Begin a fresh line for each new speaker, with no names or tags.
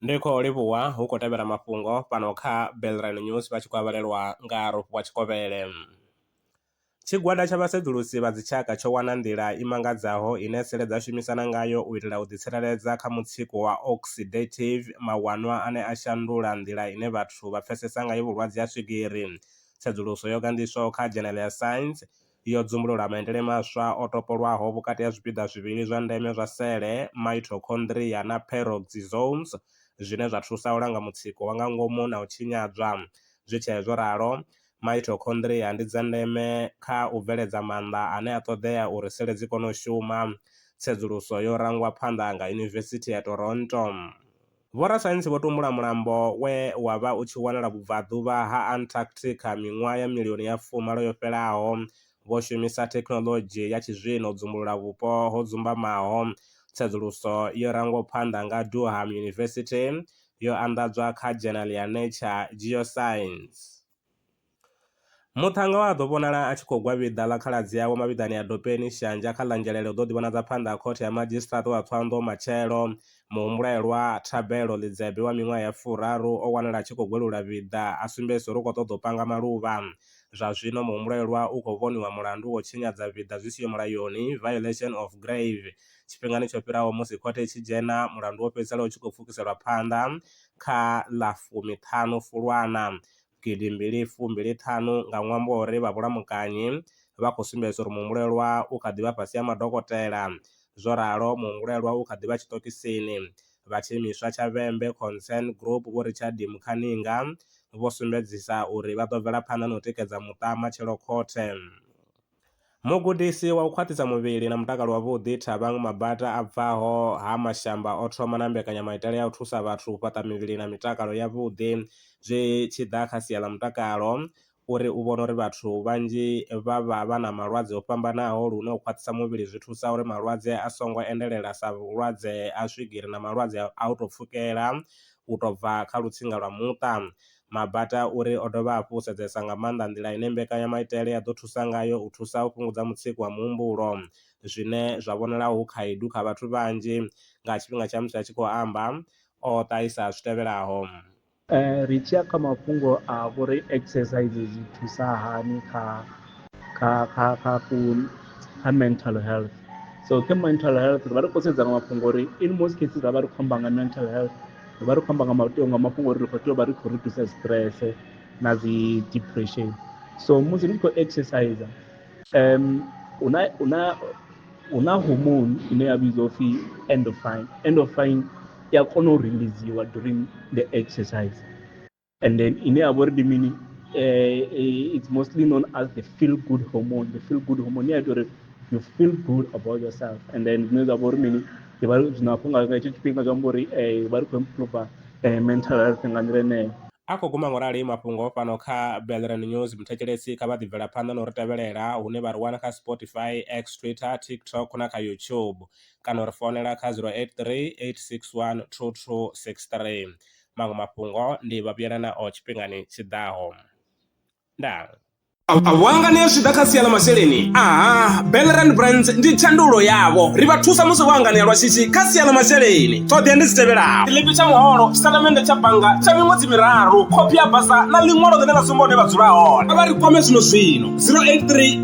Ndi khou livhuwa hu khou tevhela mafhungo fhano kha Belrand News vha tshi khou avhalelwa nga Rofhiwa Tshikovhele. Tshigwada tsha vhasedzulusi vha dzitshaka tsho wana nḓila i mangadzaho ine sele dza shumisana ngayo u itela u ḓitsireledza kha mutsiko wa oxidative, mawanwa ane a shandula nḓila ine vhathu vha pfesesa ngayo vhulwadze ha swigiri. Tsedzuluso yo gandiswaho kha Dzhenele ya Science yo dzumbulula maitele maswa o topolwaho vhukati ha zwipiḓa zwivhili zwa ndeme zwa sele, mitochondria na peroxisomes, zwine zwa thusa u langa mutsiko wa nga ngomu na u tshinyadzwa. Zwi tshee zwo ralo, mitochondria ndi dza ndeme kha u bveledza maanḓa ane a ṱoḓea uri sele dzi kone u shuma. Tsedzuluso yo rangwa phanḓa nga Yunivesithi ya Toronto. Vhorasaintsi vho tumbula mulambo we wa vha u tshi wanala vhubvaḓuvha ha Antarctica miṅwaha ya milioni ya fumalo yo fhelaho, vho shumisa thekhinoḽodzhi ya tshizwino u dzumbulula vhupo ho dzumbamaho. Tsedzuluso yo rangwaho phanḓa nga Durham University yo anḓadzwa kha dzhenali ya Nature Geoscience. Muṱhannga wa a ḓo vhonala a tshi khou gwa vhiḓa ḽa khaladzi awe mavhiḓani a dopeni Shanzha kha ḽa Ngelele u ḓo ḓivhonadza phanḓa ha khothe ya madzhisiṱiraṱa wa Tswanḓo matshelo. Muhumbulelwa, Thabelo Ḽidzebe wa miṅwaha ya furaru, o wanala a tshi khou gwelula vhiḓa a sumbedzisa uri u khou ṱoḓa u panga maluvha. Zwa zwino muhumbulelwa u khou vhoniwa mulandu wa u tshinyadza vhiḓa zwi siho mulayoni, violation of grave. Tshifhingani tsho fhiraho musi khothe i tshi dzhena, mulandu wo fhedzisela u tshi khou pfukiselwa phanḓa kha ḽa fumiṱhanu Fulwana gidi mbili fu mbili ṱhanu nga ṅwambo wa uri vha vhulamukanyi vha khou sumbedza uri muhumbulelwa u kha ḓi vha fhasi ha madokotela. Zwo ralo, muhumbulelwa u kha ḓi vha tshiṱokisini. Vha tshiimiswa tsha Vhembe Concern Group Vho Richard Mukhaninga vho sumbedzisa uri vha ḓo bvela phanḓa na u tikedza muṱa matshelo khothe. Mugudisi wa u khwaṱhisa muvhili na mutakalo wavhuḓi Thabang Mabata a bvaho ha Mashamba o thoma na mbekanyamaitele ya u thusa vhathu u fhaṱa mivhili na mitakalo ya vhuḓi zwi tshi ḓa kha sia ḽa mutakalo uri u vhona uri vhathu vhanzhi vha vha vha na malwadze o fhambanaho lune u khwaṱhisa muvhili zwi thusa uri malwadze a songo endelela sa vhulwadze ha swigiri na malwadze a u tou pfhukela u tou bva kha lutsinga lwa muṱa. Mabata uri o dovha hafhu u sedzesa nga maanḓa nḓila ine mbekanyamaitele ya ḓo thusa ngayo u thusa u fhungudza mutsiko wa muhumbulo, zwine zwa vhonala hu khaedu kha vhathu vhanzhi. Nga tshifhinga tsha musi a tshi khou amba, o ṱahisa zwi tevhelaho. Ri
tshi ya kha mafhungo a uri exercise zwi thusa hani kha kha kha kha ku kha mental health, so kha mental health ri vha ri khou sedza nga mafhungo uri in most cases ra vha ri khou amba nga mental health. ri vha ri khou amba nga mateo nga mafhungo uri ri khou tea u vha ri khou reducer stress na dzi depression so musi ni tshi khou exercise um hu na hu na hu na hormone ine ya vhidzwa upfhi endorphin endorphin i a kona u releasiwa during the exercise and then ine ya vha uri ndi mini eh, eh, it's mostly known as the feel good hormone the feel good hormone i ya ita uri you feel good about yourself and then zwine zwa vha uri mini ndi vha zwino hafho nga hetsho tshifhinga zwi amba uri um vha ri khou improve eh, mental health nga nḓila eneyo a khou guma ngorali
mafhungo fhano kha belran news muthetshelesi kha vha ḓibvela phanḓa na u ri tevhelela hune vha ri wana kha spotify x twitter tiktok na kha youtube kana u ri founela kha 083 861 2263 maṅwe mafhungo ndi vha vhuyela nao tshifhingani tshiḓaho ndaa vhuanga ni a zwi ḓa kha sia ḽa masheleni aha belrand brands ndi tshandulo yavho ri vha thusa musi vho anganea lwa shishi kha sia ḽa masheleni ṱhoḓea ndi dzi tevhelaho tshiḽipi tsha muholo tshisatamende tsha bannga tsha miṅwedzi miraru khophi ya basa na ḽiṅwalo ḽine ḽa sumba hune vha dzula hone a vha ri kwame zwino zwino 083